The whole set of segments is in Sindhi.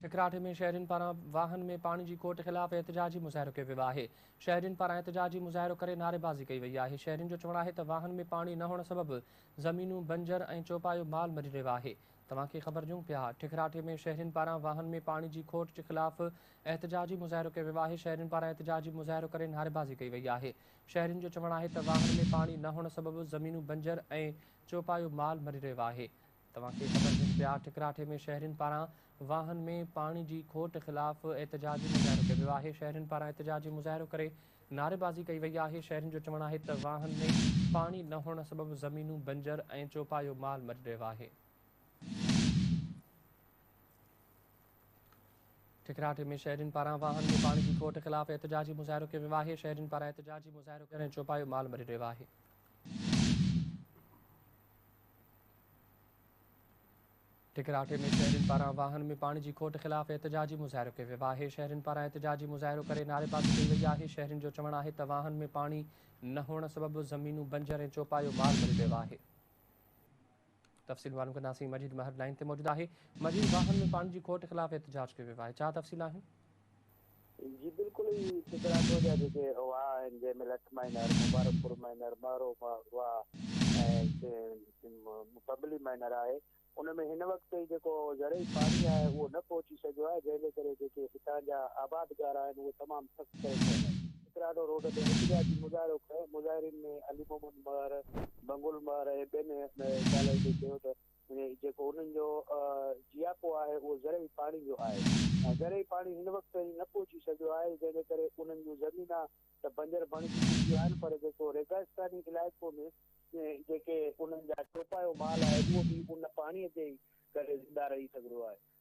سکراتي ۾ شهرين پاران واهن ۾ پاڻي جي کوٽ خلاف احتجاجي مظاهرو ڪيو ويو آهي، شهرين پاران احتجاجي مظاهرو ڪري نعريبازي ڪئي وئي آهي، شهرين جو چوڻ آهي ته واهن ۾ پاڻي نه هئڻ سبب زمينون بنجر ۽ چوپايو مال مري رهيو آهي، توهان کي خبر ڏيون پيا ٺڪراٺي ۾ شهرين پاران واهن ۾ پاڻي جي کوٽ جي خلاف احتجاجي مظاهرو ڪيو ويو آهي، شهرين پاران احتجاجي مظاهرو ڪري نعريبازي ڪئي وئي آهي، شهرين جو چوڻ آهي ته واهن ۾ پاڻي نه هئڻ سبب زمينون بنجر ۽ چوپايو مال مري رهيو آهي. توهان کي خبر هجي پيا ٺڪراٺي ۾ شهرين پاران واهن ۾ پاڻي جي کوٽ خلاف احتجاجي مظاهرو ڪيو ويو آهي شهرين پاران احتجاجي مظاهرو ڪري نعريبازي ڪئي وئي آهي شهرين جو چوڻ آهي ته واهن ۾ پاڻي نه هئڻ سبب زمينون بنجر ۽ چوپايو مال مري رهيو آهي ٺڪراٺي ۾ شهرين پاران واهن ۾ پاڻي جي کوٽ خلاف احتجاجي مظاهرو ڪيو ويو آهي شهرين پاران احتجاجي مظاهرو ڪري چوپايو مال مري رهيو آهي ٽڪراٽي ۾ شهرين پاران واهن ۾ پاڻي جي کوٽ خلاف احتجاجي مظاهرو ڪيو ويو آهي شهرين پاران احتجاجي مظاهرو ڪري نعريبازي ڪئي وئي آهي شهرين جو چوڻ آهي ته واهن ۾ پاڻي نه هئڻ سبب زمينون بنجر ۽ چوپايو مال مري ويو آهي تفصيل معلوم ڪنداسين مجيد مهر لائن تي موجود آهي مجيد واهن ۾ پاڻي جي کوٽ خلاف احتجاج ڪيو ويو آهي ڇا تفصيل آهن جي بلڪل اهي چترانگو جا جيڪي واهه آهن جنهن ۾ لٺ مائنر، مبارڪ پور مائنر، مهرو واهه ۽ پبلي مائنر آهي ان ۾ هن وقت تائين جيڪو زرعي پاڻي آهي اهو نه پهچي سگهيو آهي جنهن جي ڪري جيڪي هتان جا آبادگار آهن اهي تمام سخت پريشان آهن. چترانو روڊ تي احتجاجي مظاهرو ڪيو، مظاهرين ۾ علي محمد مهر، منگل مهر ۽ ٻين ڳالهائيندي چيو ته جيڪو انهن جو جياپو آهي اهو زرعي پاڻي جو آهي ۽ زرعي پاڻي هن وقت تائين نه پهچي سگهيو آهي جنهن جي ڪري انهن جون زمينا ته بنجر بڻجي چڪيون آهن پر جيڪو ريگستاني علائقو ۾ جيڪي انهن جا چوپايو مال آهي اهو به ان پاڻي جي ڪري زنده رهي سگهندو آهي.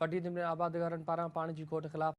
پٽي ضمني آبادگارن پاران پاڻي جي کوٽ خلاف